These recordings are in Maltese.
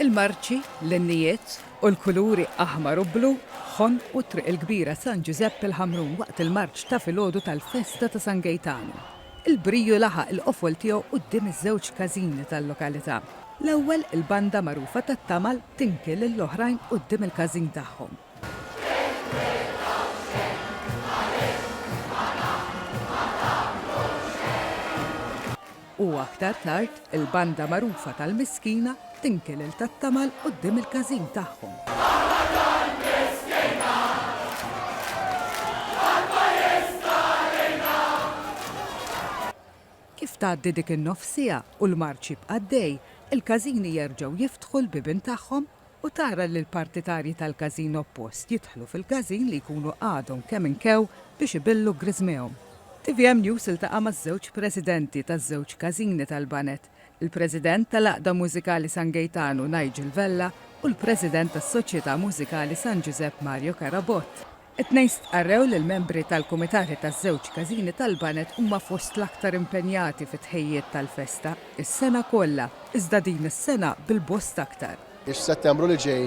Il-marċi, l-innijiet u l-kuluri aħmar u blu ħonqu t-Triq il-Kbira San Ġużepp il-Ħamrun waqt il-marċ ta' filgħodu tal-festa ta' San Gejtanu. Il-briju laħaq il-qofol tiegħu quddiem iż-żewġ każini tal-lokalità. L-ewwel, il-banda magħrufa tat-tamal tinki lill-oħrajn quddiem il-każin tagħhom. u aktar tard il-banda magħrufa tal-Miskina tinki lil Tattamal quddiem il-każin tagħhom. Aħna tal-Miskina! Ħadd ma jista' għalina! Kif tgħaddi dik in-nofsiegħa u l-marċ jibqa' għaddej, il-każini jerġgħu jiftħu l-bibien tagħhom u tara li l-partitarji tal-każin oppost jidħlu fil-każin li jkunu għadhom kemm inkew biex ibillu griżmehom. Tvm News iltaqa' maż-żewġ presidenti taż-żewġ każini tal-Baned, il-President tal-Għaqda Mużikali San Gejtanu Nigel Vella u l-President tas-Soċjetà Mużikali San Ġużepp Mario Carabott. It-tnejn stqarrew li l-membri tal-kumitati taż-żewġ każini tal-baned huma fost l-aktar impenjati fit-tħejjijiet tal-festa, is-sena kollha, iżda din is-sena bil-bosta aktar. F'Settembru li ġej,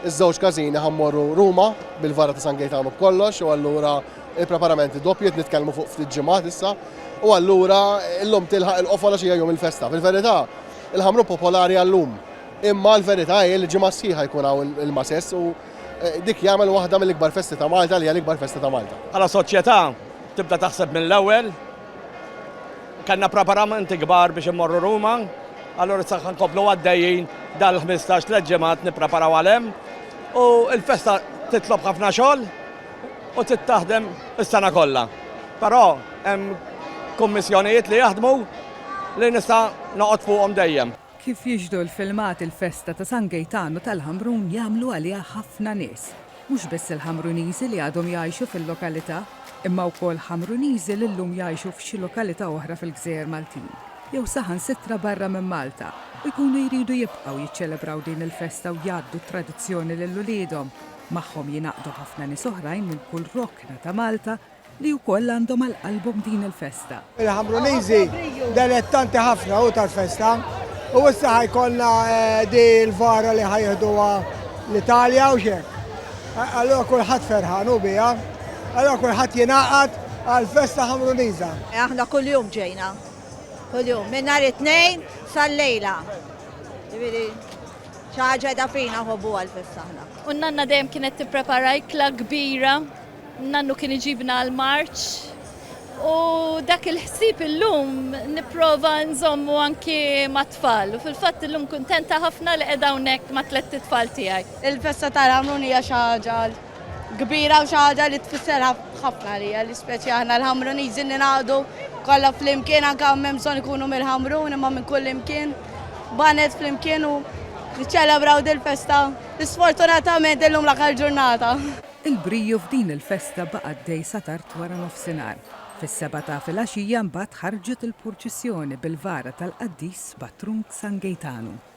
iż-żewġ każini ħa mmorru Ruma bil-vara ta' San Gejtanu b'kollox u allura l-preparamenti doppji qed nitkellmu fuq ftit ġimgħat issa u allura llum tilħaq il-qofola xi jum il-festa. Fil-verità, il-Ħamrun popolari għal-lum imma l-verità hi li ġimgħa sħiħa jkun hawn il-Masess u dik jagħmel waħda mill-ikbar festi ta' Malta li hija l-ikbar festa ta' Malta. Bħala soċjetà tibda taħseb mill-ewwel. Kellna preparamenti kbar biex immorru Ruma, allura issa ħa nkomplu għaddejjin dal-15 tliet ġimgħat nippreparaw għal hemm u l-festa titlob ħafna xogħol u trid taħdem is-sena kollha. Però hemm kummissjonijiet li jaħdmu li nista' noqgħod fuqhom dejjem. Kif jixhdu l-filmat il-festa ta' San Gejtanu tal-Ħamrun jagħmlu għaliha ħafna nies. Mhux biss il-Ħamruniżi li għadhom jgħixu fil-lokalità imma wkoll Ħamruniżi li llum jgħixu f'xi lokalità oħra fil-gżejjer Maltin jew saħansitra barra minn Malta u jkunu jridu jibqgħu jiċċelebraw din il-festa u jgħaddu t-tradizzjoni lil uliedhom. Magħhom jingħaqdu ħafna nies oħrajn minn kull rokna ta' Malta li wkoll għandhom għal qalbhom din il-festa. Il-Ħamruniżi delettanti ħafna hu tal-festa u issa ħa jkollna di l-vara li ħa jieħduha l-Italja u xek. Allura kulħadd ferħan u biha, allura kulħadd jingħaqad għall-festa Ħamruniża. Aħna kuljum ġejna, kuljum, minn nhar it-tnejn sal-lejla. Ġifieri xi ħaġa da fina ħobbu għall-festa aħna. U n-nanna dejjem kienet tipprepara ikla kbira Nannu kien iġibna għall-marċ u dak il-ħsieb illum nipprova nżommu anki mat-tfal u fil-fatt illum kuntenta ħafna li qiegħda hawnhekk ma' tlett itfal tiegħi. Il-festa tal-Ħamrun hija xi ħaġa kbira u xi ħaġa li tfisser ħafna għalija li speċi aħna l-Ħamruniżi ningħaqdu kollha flimkien anke hawn m'hemm bżonn ikunu mill-Ħamrun imma minn kullimkien b'għaned flimkien u niċċelebraw dil-festa li sfortunatament illum l-aħħar ġurnata. Il-briju f'din il-festa baqa' għaddej sa tard wara nofsinhar. Fis-sebgħa ta' filgħaxija mbagħad ħarġet il-purċissjoni bil-vara tal-qaddis patrun San Gejtanu.